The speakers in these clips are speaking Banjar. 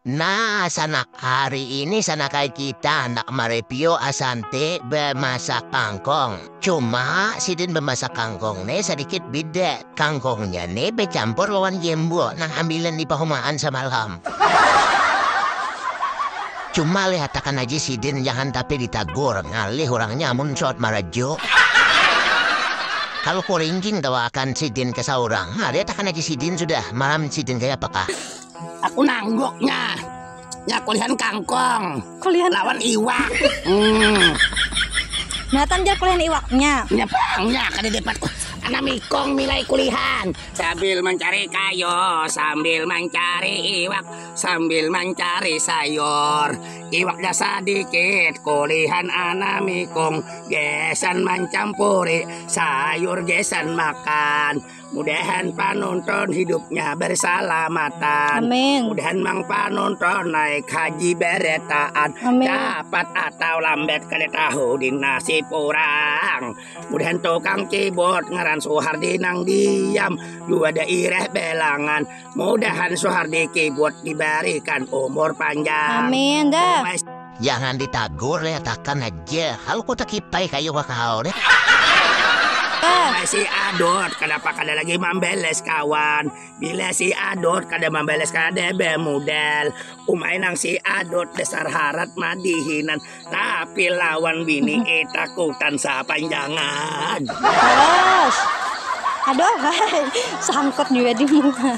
Nah, sanak hari ini sanakai kita handak mareview Asante bemasak kangkong. Cuma sidin bemasak kangkong ne sadikit beda, kangkongnya ne becampur lawan gembok nang ambilan di pahumaan samalam. Cuma lihatakan aja sidin jangan tapi ditagur, ngalih urangnya amun suat marajo. Kalu kuringking tawakan sidin ke saurang, ha lihatakan aja sidin sudah, malam sidin kayapakah. aku nangguknya nya kulihan kangkong kulihan lawan iwak hmm. Natan jar kulihan iwaknya nya bangnya kada dapat anak mikong milai kulihan sambil mencari kayu sambil mencari iwak sambil mencari sayur iwaknya sedikit kulihan anak mikong gesan mencampuri sayur gesan makan Mudahan panonton hidupnya bersalamatan. Amin. Mudahan mang panonton naik haji beretaan. Amin. Dapat atau lambat kada tahu di nasib orang. Mudahan tukang keyboard ngaran Suhardi nang diam dua daerah belangan. Mudahan Suhardi keyboard diberikan umur panjang. Amin dah. Jangan ditagur ya takan aja. Hal ku takipai kayu ka kahal nih. Wahai si Adot, kanapa kada lagi mambeles kawan? Bila si Adot kada mambeles kada bemudal. Umai nang si Adot dasar harat madihinan, tapi lawan bini e takutan sapanjangan. Terus, aduh, sangkut jua di muha.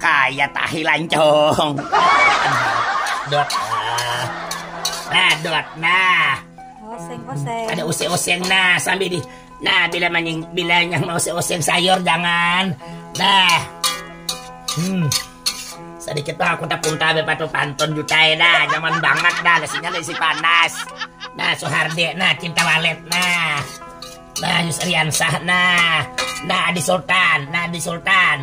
Kaya tahi lancung. dot. Nah. nah, dot. Nah. Oseng, oseng. Ada useng-oseng. Nah, sambil di Nah, bila maning bila yang mau seoseng sayur jangan. Nah. Hmm. Sedikit lah aku tak punta be patu pantun juta ya dah. Zaman banget dah nasinya nasi panas. Nah, Sohardi, nah cinta walet nah. Nah, Yusriansah nah. Nah, Adi Sultan, nah Adi Sultan.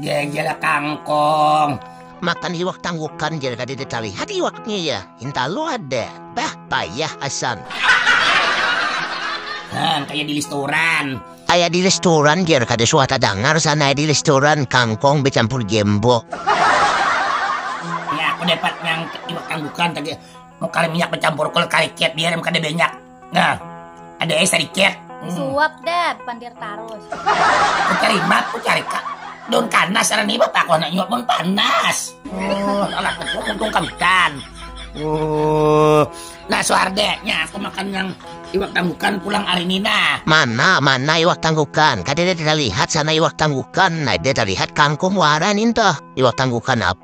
Ya iyalah kangkong. Makan iwak tanggukan jadi kada terlihat iwaknya ya. Inta lu ada. Bah, payah asan. Hang, kayak di restoran. Kayak di restoran jer kada suah dengar sana di restoran kangkong bercampur gembok. Ya, aku dapat yang iwak tanggukan tadi. Mau kali minyak bercampur kol kali kiat biar kada banyak. Nah, ada es sedikit. Hmm. Suap dah, pandir tarus. Mencari mat, mencari kak. Don kanas ada nih bapak kau nak nyuap pun panas. Oh, alah untung kawitan. Oh, nah suardeknya aku makan yang iwak tanggukan pulang hari ini nah. Mana mana iwak tanggukan? Kada ada terlihat sana iwak tanggukan. Ada terlihat kangkung waran itu. Iwak tanggukan apa?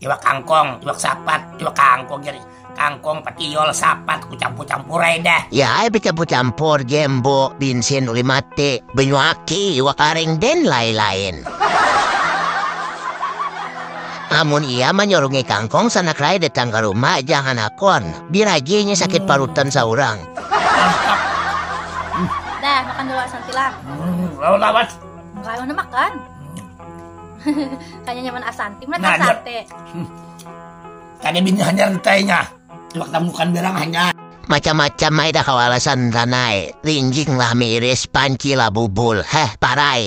iwak kangkong, iwak sapat, iwak kangkong jadi kangkong, patiol, sapat, kucampur-campur ae dah. Ya ai becampur-campur jembo, binsin, uli mate, benyu aki, iwak areng den lae-laen. Amun iya manyurungi kangkong sanak rae datang ka rumah jangan hakon, biragi inya sakit parutan saurang. Dah makan dulu asam silang. Lawan lawan. Kalu handak makan. Kayaknya nyaman asanti, mana nah, asante. Hmm. Kada bini hanyar ditanya. Coba temukan bilang hanyar. Macam-macam ay dah kau alasan tanai. Rinjing lah miris, panci lah bubul. Heh, parai.